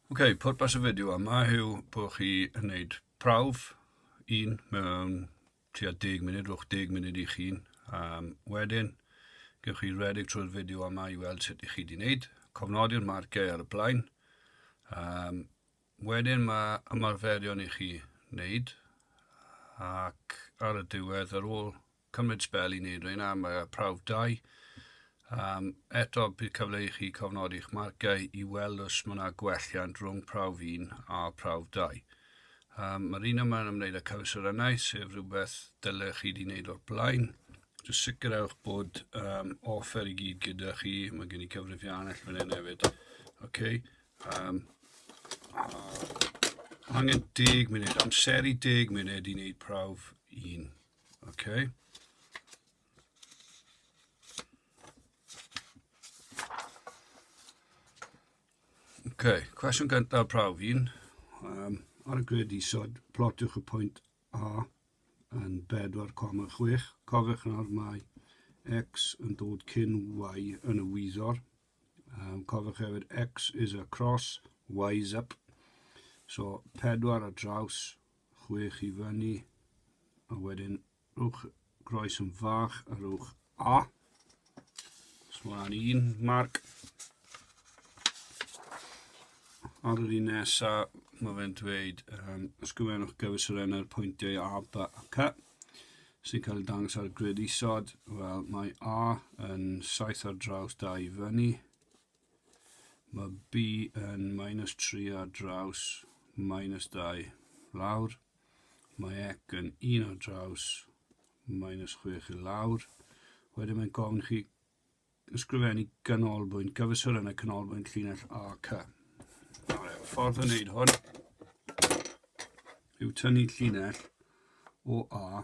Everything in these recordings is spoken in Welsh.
Ok, pwrpas y fideo yma yw bod chi yn gwneud prawf un mewn tua 10 munud, rhwch 10 munud i chi. Um, wedyn, gewch chi redeg trwy'r fideo yma i weld sut i chi wedi gwneud. Cofnodi'r marciau ar y blaen. Um, wedyn mae ymarferion i chi wneud ac ar y diwedd ar ôl cymryd sbel i wneud rheina am y prawf dau. Um, eto, bydd cyfle i chi cofnodi eich marciau i weld os mae yna gwelliant rhwng prawf 1 a prawf 2. Um, Mae'r un yma yn ymwneud â cyfesurynau, sef rhywbeth dylech chi wedi wneud o'r blaen. Just sicrhewch bod um, offer i gyd gyda chi. Mae gen i cyfrifiannell fan hyn hefyd. Okay. Um, angen deg munud, amseru deg munud i wneud prawf un. Okay. Okay, cwestiwn gyntaf prawf un. Um, ar y grid isod, plotiwch y pwynt A yn 4,6. Cofiwch nawr mae X yn dod cyn Y yn y wyddor. Um, cofiwch hefyd X is a cross, Y is up. So 4 ar draws chwech i fyny, a wedyn rhowch groes yn fach a rhowch A. Os mlaen un marc. Ar yr un nesa, mae fe'n dweud, um, ysgrifennwch gyfesuren ar pwyntiau A, B a C sy'n cael ei dangos ar y grid isod. Wel, mae A yn saith ar draws da i fyny. Mae B yn minus 3 ar draws minus 2 lawr. Mae ec yn 1 ar draws minus 6 i lawr. Wedyn mae'n gofyn chi ysgrifennu ganolbwynt gyfysur yn y canolbwynt llinell AC. Nawr, y ffordd o wneud hwn yw tynnu llinell o A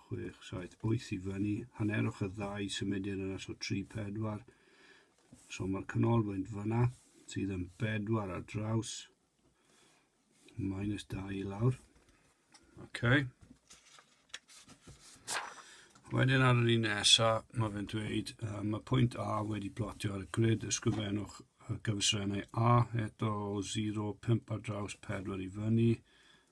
Chwech, saith, wyth i fyny. Hanerwch y ddau symudyn yna, so tri, pedwar. So mae'r canolfwynt fyna, sydd yn bedwar ar draws. Minus dau i lawr. Okay. Wedyn ar yr un nesa, mae fe'n dweud, uh, mae pwynt A wedi plotio ar y grid, ysgrifennwch y gyfrannau A eto o 0,5 ar draws 4 i fyny,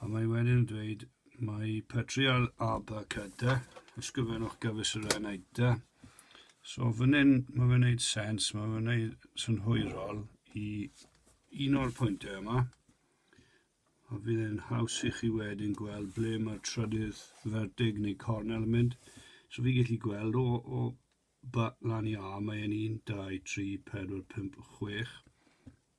A mae wedyn yn dweud, mae Petri al Aba Kada, ysgrifennwch gyfres yr Enaida. So fan hyn, mae fe'n neud sens, mae fe'n neud synhwyrol i un o'r pwyntau yma. A fydd e'n haws i chi wedyn gweld ble mae'r trydydd fertig neu cornel yn mynd. So fi gallu gweld o, o ba lan i A, mae'n 1, 2, 3, 4, 5, 6.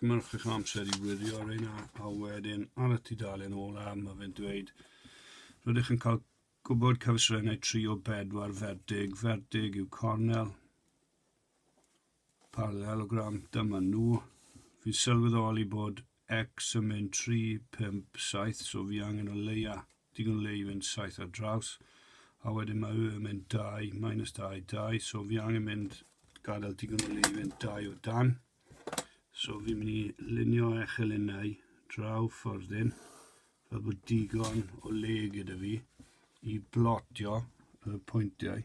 Gymrwch eich amser i wirio ar ein a wedyn ar y tudalen ola mae fe'n dweud rydych yn cael gwybod cyfysrennau 3 o 4 ferdig. Ferdig yw cornel, parallelogram, dyma nhw. Fi'n sylweddoli bod X yn mynd 3, 5, 7, so fi angen o leia digon le i fynd 7 ar draws. A wedyn mae Y yn mynd 2, minus 2, 2, so fi angen mynd gadael digon o le i fynd 2 o dan. So fi'n mynd i lunio echel unau draw ffordd un, fel bod digon o le gyda fi i blotio y pwyntiau.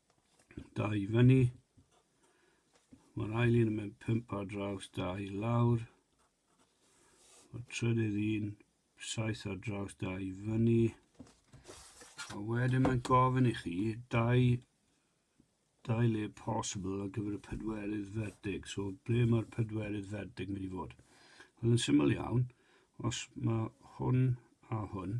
Dau fyny. Mae'r ail un yn mynd pump ar draws, dau lawr. Mae'r trydydd un, saith ar draws, dau fyny. A wedyn mae'n gofyn i chi dau, dau le possible ar gyfer y pedwerydd fertig. So, ble mae'r pedwerydd fertig mynd i fod? Wel, yn syml iawn, os mae hwn a hwn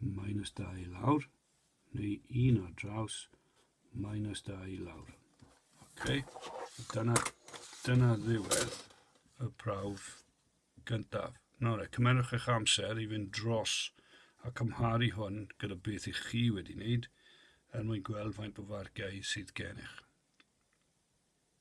minus 2 i lawr, neu 1 ar draws, minus 2 i lawr. Okay. Dyna, dyna ddiwedd y prawf gyntaf. Nawr, e, cymerwch eich amser i fynd dros a cymharu hwn gyda beth i chi wedi wneud er mwyn gweld faint o farciau sydd gennych.